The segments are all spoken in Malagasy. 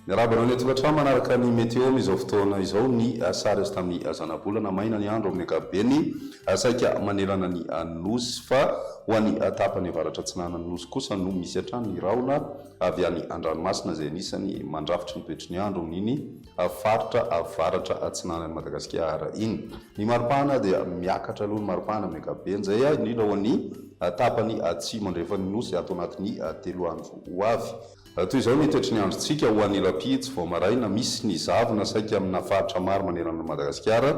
Miarahaba anao ny an-tokantrano manaraka ny météo amin'izao fotoana izao ny ah, sary azo tamin'ny ah, zanabolana. Maina ny andro amin'ny ankapobeny, ah, saika manerana ny Nosy fa ho an'ny tapany avaratra atsinanan'ny Nosy kosa no misy hatrany ny rahona avy any an-dranomasina izay anisany mandrafitry ny toetry ny andro amin'iny faritra avaratra atsinanan'i Madagasikara iny. Ny maripana dia miakatra aloha ny maripana amin'ny ankapobeny izay indrindra ho an'ny tapany atsimo andrefan'ny Nosy ato anatin'ny telo andro ho avy. Toy izao ny toetry ny androntsika ho an'ny Alapidsy vao maraina, misy ny zavona saika amina faritra maro manerana an'i Madagasikara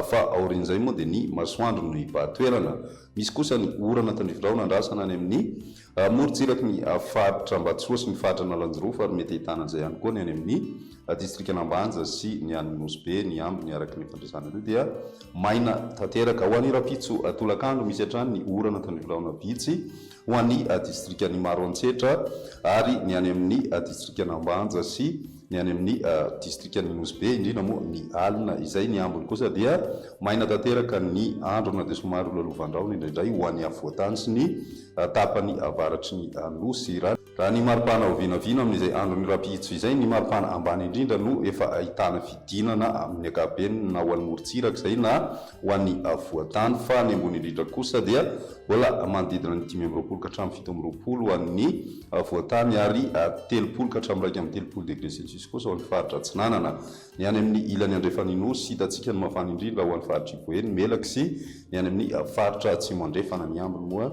fa aorian'izay moa dia ny masoandro no hibahan-toerana. Misy kosa ny orana tandrifindrao nandrasana any amin'ny. Amorontsiraky ny faritra Ambatsoa sy ny faritra Analanjirofo ary mety ahitana an'izay ihany koa ny any amin'ny distrikan'Ambanja sy ny any Nosy Be ny ambiny araka ny fandresana ireo dia maina tanteraka. Ho an'ny rahampitso tolakandro misy hatrany ny orana ka ny biraona vitsy ho an'ny distrikan'Imaroantsetra ary ny any amin'ny distrikan'Ambanja sy Ny any amin' ny distrikan' ny Nosy Be, indrindra moa ny alina izay ny ambiny kosa dia maina tanteraka ny andro na dia somary ho lalovan-drahona indraindray ho an' ny afovoan-tany sy ny tapany avaratry ny nosy. Raha ny maripana ao vinavina amin' izay andron' ny rahampitso izay, ny maripana ambany indrindra no efa ahitana fidinana amin' ny ankapobeny na ho any morontsiraka izay na ho any afovoan-tany fa ny ambony indrindra kosa dia mbola manodidina ny dimy amby roapolo ka hatramin' ny fito amby roapolo ho an' ny Avoantany ary telopolo ka hatramin'ny iraika amby telopolo degre celsius kosa ao amin'ny faritra Atsinanana. Ny any amin'ny ilany andrefan'ny Nosy, hitantsika ny mafana indrindra ao any faritr'i Boeny, Melaky sy ny any amin'ny faritra Atsimo Andrefana. Ny ambiny moa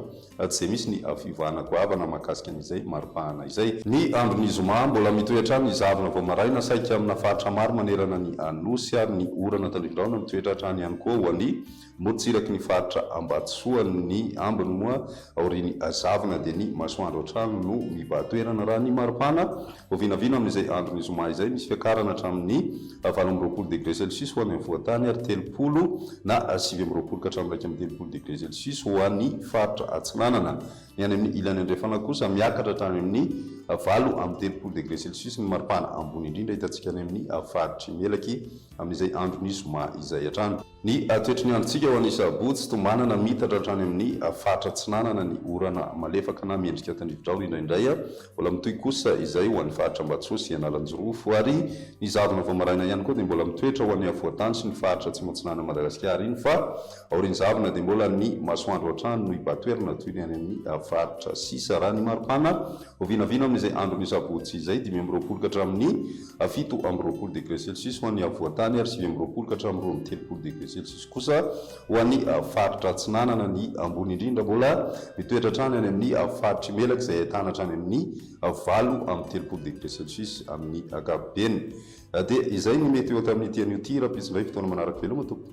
tsy dia misy ny fiovana goavana mahakasika an'izay mari-pahana izay. Ny andron'ny zoma, mbola mitohy hatrany ny zavona vao maraina saika amina faritra maro manerana ny Nosy ary ny orana tandrifin-drahona mitoetra hatrany ihany koa ho an'i Morontsiraky ny faritra Ambatosoa ny ambiny moa aorian'ny azavina dia ny masoandro hatrany no mibahan-toerana raha ny maripana vao vinavina amin'izay andron'ny zoma izay misy fiakarana hatramin'ny valo amby roapolo degré celsius ho any afovoan-tany ary telopolo na sivy amby roapolo ka hatramin'ny iraika amby telopolo degré celsius ho any faritra atsinanana ny any amin'ny ilany andrefana kosa miakatra hatrany amin'ny valo amby telopolo degré celsius ny maripana ambony indrindra hitantsika any amin'ny faritry Melaky amin'izay andron'ny zoma izay hatrany. Ny toetry ny androntsika ho an'ny sabotsy, tombanana miitatra hatrany amin'ny faritra atsinanana ny orana malefaka na miendrika tandrividraona indraindray, mbola mitohy kosa izay ho an'ny faritra Ambatsoa sy Analanjirofo ary ny zavona vao maraina ihany koa dia mbola mitoetra ho an'ny afovoantany sy ny faritra atsimo-atsinanan'i Madagasikara iny fa aorian'ny zavona dia mbola ny masoandro hatrany no hibatoerana toy ny any amin'ny faritra sisa raha ny mari-pana ho vinavina amin'izay andron'ny sabotsy izay dimy amby roapolo ka hatramin'ny a fito amby roapolo degre celsius ho an'ny afovoan-tany ary sivy amby roapolo ka hatramin'ny roa amby telopolo degre celsius kosa ho an'ny faritra atsinanana. Ny ambony indrindra mbola mitoetra hatrany any amin'ny faritr'i Melaky izay ahitana hatrany amin'ny valo amby telopolo degre celsius amin'ny ankapobeny. Dia izay ny meteo tamin'ity anio ity. Rahampitso indray fotoana manaraka. Veloma tompoko.